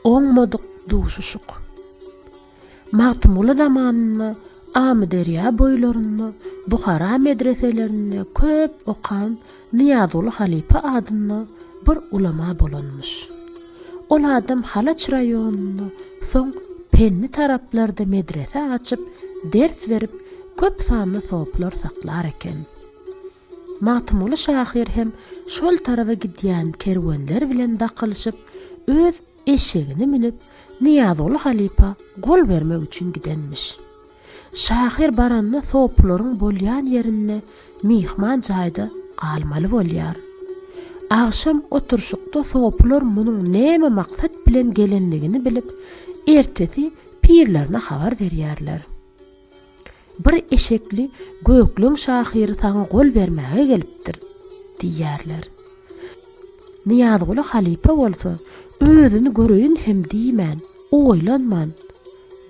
Oňmadyk duşuşyk. Magtymguly zamanynda Amyderýa boýlarynda Buhara medreselerinde köp okan Nyýazguly halypa adynda bir ulama bolanmyş. Ol adam Halaç raýonynda soň Penni taraplarda medrese açyp, ders berip, köp sanly soplar saklar eken. Magtymguly şahyr hem şol taraba gidýän kerwenler bilen dakylyşyp, öz eşegini münüp, Nyýazguly halypa gol bermek üçin gidenmiş. Şahyr baranda sopularyň bolýan ýerinde myhman jaýda galmaly bolýar. Agşam oturyşykda sopular munuň näme maksat bilen gelendigini bilip, ertesi pirlerine habar berýärler. Bir eşekli gökleň şahyry saňa gol bermäge gelipdir, diýýärler. Nyýazguly halypa bolsa, özüni göreýin hem diýmän, oýlanman,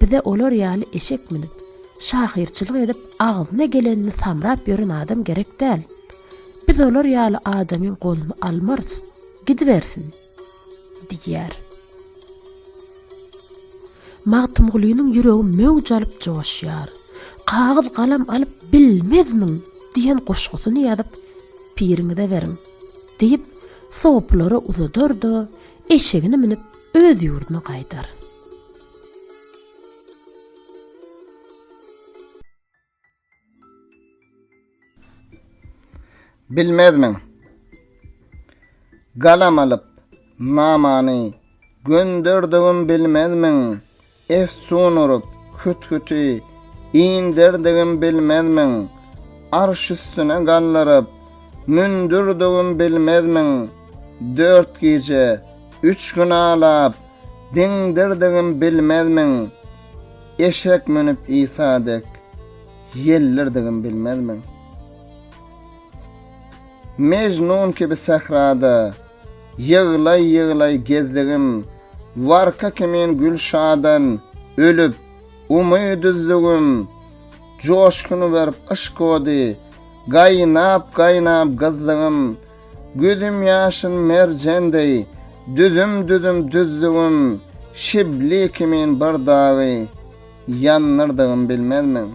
Bize olar ýaly eşek münüp, şahyrçylyk edip agzyna gelenini samrap ýören adam gerek däl. Biz olar ýaly adamyň goluny almarys. Gidibersin! diýýär. Magtymgulynyň ýüregi möwj alyp joşýar. Kagyz galam alyp bilmezmiň diýen goşgusyny ýazyp piriňize beriň, diýip, sopulary uzadar-da, eşegini münüp, öz ýurduna gaýdar. Bilmezmiň? Galam alyp, namany gönderdigim bilmezmiň? Efsun urup, hüthüti inderdigim bilmezmiň? Arş üstüne galdyryp, mündürdigim bilmezmiň? Dört gije, üç gün alap, diňdirdigim bilmezmiň? Eşek münüp Isa dek ýellirdigim bilmezmiň? Mejnun kibi sährada ýyglaý-ýyglaý gezdigim, warka kimin Gülşadan ölüp, umyt üzdügim, joşgun berip yşk ody, gaýnap-gaýnap gyzdygym, Gözüm ýaşyl merjen deý, düzüm-düzüm düzdügim, şibli kimin bir dagy ýandyrdygym bilmezmiň?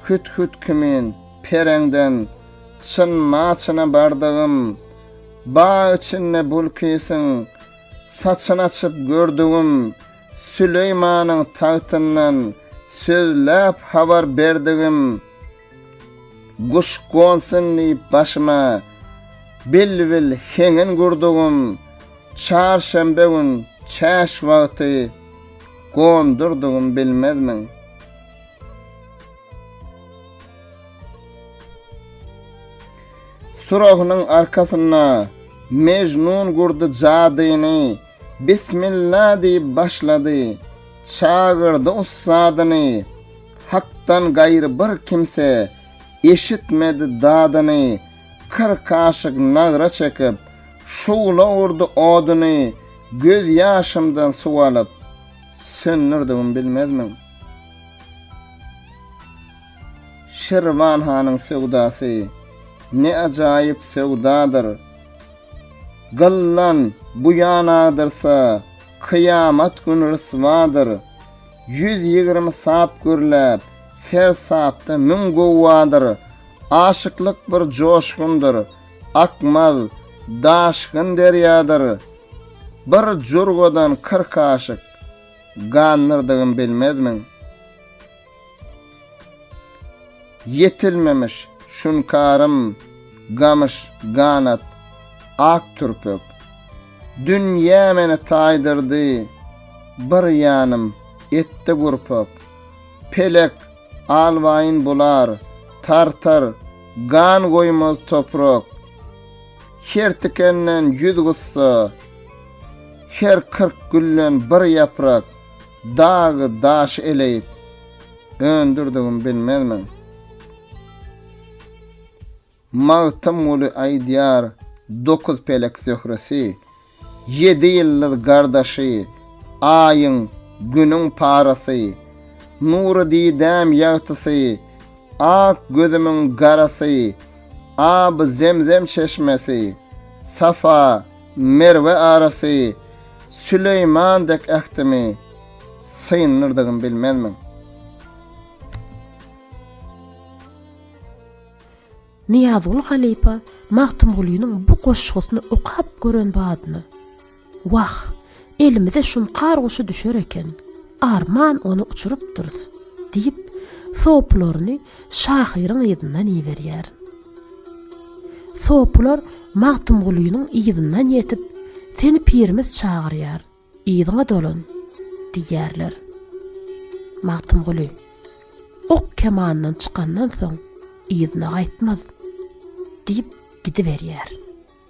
Hüt-hüt kimin pereňden çyn-maçyna bardygym, bag içinde bulkisyň saçyn açyp gördügim, Süleýmanyň tagtyndan sözläp habar berdigim, Guş gonsun diýip başyma, Bilbil heňin gurdugym, Çarşenbe gün çäş wagty, Gondurdugym bilmezmiň? Surahynyň arkasynda, Mejnun gurdy jadyny, Bismilla diýip başlady, Çagyrdy ussadyny. Hakdan gaýry bir kimse eşitmedi dadyny, Kyrk kaşyk nagra çekip, şugla urdy oduny, Göz ýaşymdan suw alyp, söndürdigim bilmezmiň? Şirwan hanyň söwdasy, ne ajaýyp söwdadyr, Gyllan bu ýan agdyrsa, kyýamat gün ryswadyr. Ýüz ýigrimi sap gürläp, her sapda müň guwwadyr. Aşyklyk bir joşgundyr, akmaz, daşgyn derýadyr. Bir jurgadan kyrk aşyk, gandyrdygym bilmezmiň? Ýetilmemiş şunkarym, gamyş ganat, ak türpek. Dünýä meni taýdyrdy, bir ýanym etdi gurpak. Pelek, alwaýyn bular, tartar, gan goýmaz toprak. Her tikenden ýüz gussa, her kyrk gülden bir ýaprak. Dagy daş eleýip, öndürdigim bilmezmiň? Magtymguly aýdýar, Dokuz pelek zöhresi, ýedi ýyldyz gardaşy, Aýyň, Günüň parasy, Nury didäm ýagtysy, Ak gözümiň garasy, Aby zemzem çeşmesi, Safa, Merwe arasy Süleýman dek ähtimi syndyrdygym bilmezmiň. Nyýazguly halypa Magtymgulynyň bu goşgusyny okap gören badyna, Wah, elimize şunkar guşy düşer eken, arman ony uçurypdyrys! diýip, sopularyny şahyryň yzyndan iberýär. Sopylar Magtymgulynyň yzyndan ýetip, Seni pirimiz çagyrýar, yzyňa dolan! diýýärler. Magtymguly, Ok kemandan çykandan soň, yzyna gaýtmaz! diýip gidiberýär.